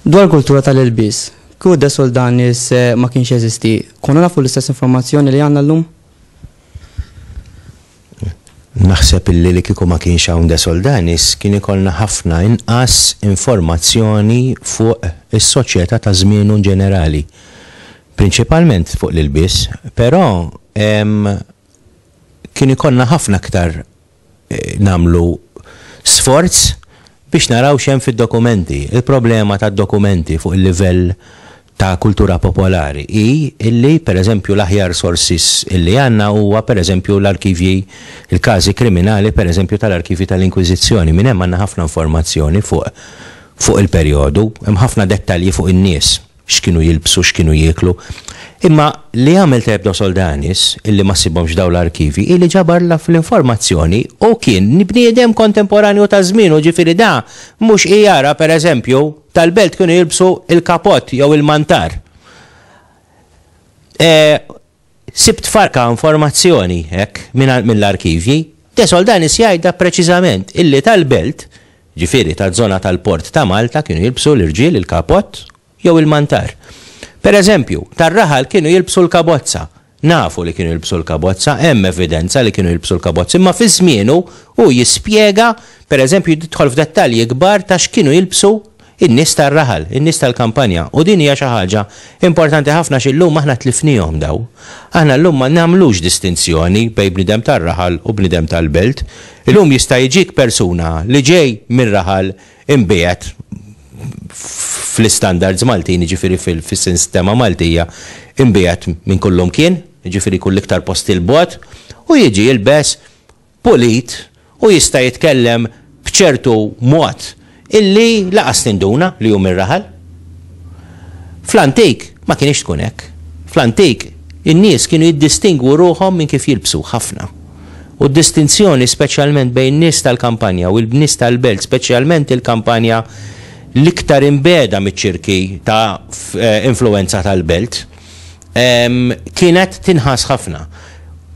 Dwar kultura tal-ilbis, kuda soldani se ma kienx jeżisti, konna nafu l-istess informazzjoni li għanna l-lum? Naħseb illi li kieku ma kienx hawn De Soldanis kien ikollna ħafna inqas informazzjoni fuq is-soċjetà ta' żmienu inġenerali. Prinċipalment fuq l-ilbies, però kien ikollna ħafna aktar nagħmlu sforz biex naraw x'hemm fid-dokumenti. Il-problema tad-dokumenti fuq il-livell ta' kultura popolari hi li, pereżempju, l-aħjar sources li għandna huwa, pereżempju, l-arkivji, il-każi kriminali, pereżempju, tal-arkivji tal-Inkwiżizzjoni. Minn hemm għandna ħafna informazzjoni fuq fuq il-perjodu, hemm ħafna dettalji fuq in-nies. x'kienu jilbsu, x'kienu jieklu. Imma li għamel tajjeb Dos Oldanis, illi ma ssibhomx f'dawn l-arkivji, hi li ġabar l-informazzjoni u kien bniedem kontemporanju ta' żmienu, ġifieri da mhux qi jara, per eżempju, tal-belt kienu jilbsu l-kapott jew il-mantar. Sibt farka informazzjoni hekk mingħand mill-arkivji. De Soldanis jgħidha preċiżament illi tal-belt, ġifieri taż-żona tal-port ta' Malta kienu jilbsu l-irġiel il-kapott jew il-mantar. Per eżempju, tar-raħal kienu jilbsu l-kabozza. Nafu li kienu jilbsu l-kabozza, hemm evidenza li kienu jilbsu l-kabozza imma fi żmienu hu jispjega, per eżempju jidħol f'dettalji kbar ta' x'kienu jilbsu in-nies tar-raħal, in-nies tal-kampanja, u din hija xi ħaġa importanti ħafna għax illum aħna tlifniehom dawn. Aħna llum ma nagħmlux distinzjoni bejn bniedem tar-raħal u bniedem tal-belt. Illum jista' jiġik persuna li ġej mir-raħal imbiegħed fl-istandards Maltin, jiġifieri fis-sistema Maltija, imbiegħed minn kullumkien, jiġifieri jkun l-iktar post 'il bogħod, u jiġi jilbes pulit u jista' jitkellem b'ċertu mod illi laqas tinduna li hu mir-raħal. Fl-antik ma kinitx tkun hekk. Fl-antik in-nies kienu jiddistingwu ruħhom minn kif jilbsu, ħafna. U d-distinzjoni speċjalment bejn nies tal-kampanja u l-nies tal-belt, speċjalment il-kampanja l-iktar imbiegħda miċ-ċirki ta' influwenza tal-belt, kienet tinħass ħafna.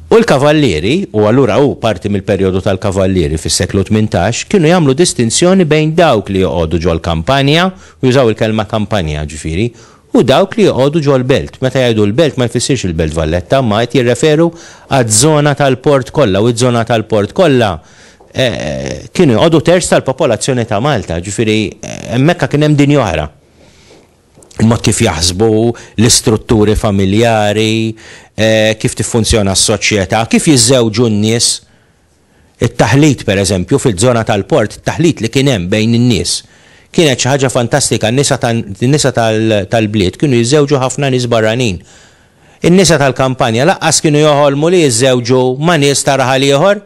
U l-kavallieri, u allura hu parti mill-perjodu tal-kavallieri fis-seklu tmintax, kienu jagħmlu distinzjoni bejn dawk li joqogħdu ġol-kampanja, u jużaw il-kelma kampanja, ġifieri, u dawk li joqogħdu ġol-belt. Meta jgħidu l-belt ma jfissirx il-Belt Valletta, imma qed jirreferu għaż-żona tal-port kollha, u ż-żona tal-port kollha kienu joqogħdu terz tal-popolazzjoni ta' Malta, ġifieri hemmhekk kien hemm dinja oħra. ma' kif jaħsbu l-istrutturi familjari, kif tiffunzjona s-soċjetà, kif jiżżewġu n-nies. It-taħlit, pereżempju, fiż-żona tal-port, it-taħlit li kien hemm bejn in-nies, kienet xi ħaġa fantastika. N-nisa n-nisa tal-bliet kienu jiżżewġu ħafna nies barranin. In-nisa tal-kampanja laqqas kienu joħolmu li jiżżewġu ma' nies ta' raħal ieħor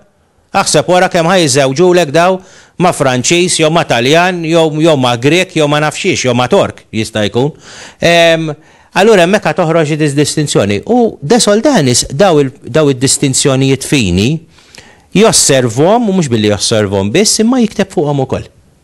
Aħseb wara kemm ħa jiżżewġulek dawn ma' Franċiż jew ma' Taljan jew ma' Grieg jew ma' nafx xiex jew ma' Tork jista' jkun. Ehm, allura hemmhekk ħa toħroġ id-distinzjoni. U De Soldanis dawn id-distinzjonijiet fini josservhom u mhux billi josservhom biss imma jikteb fuqhom ukoll.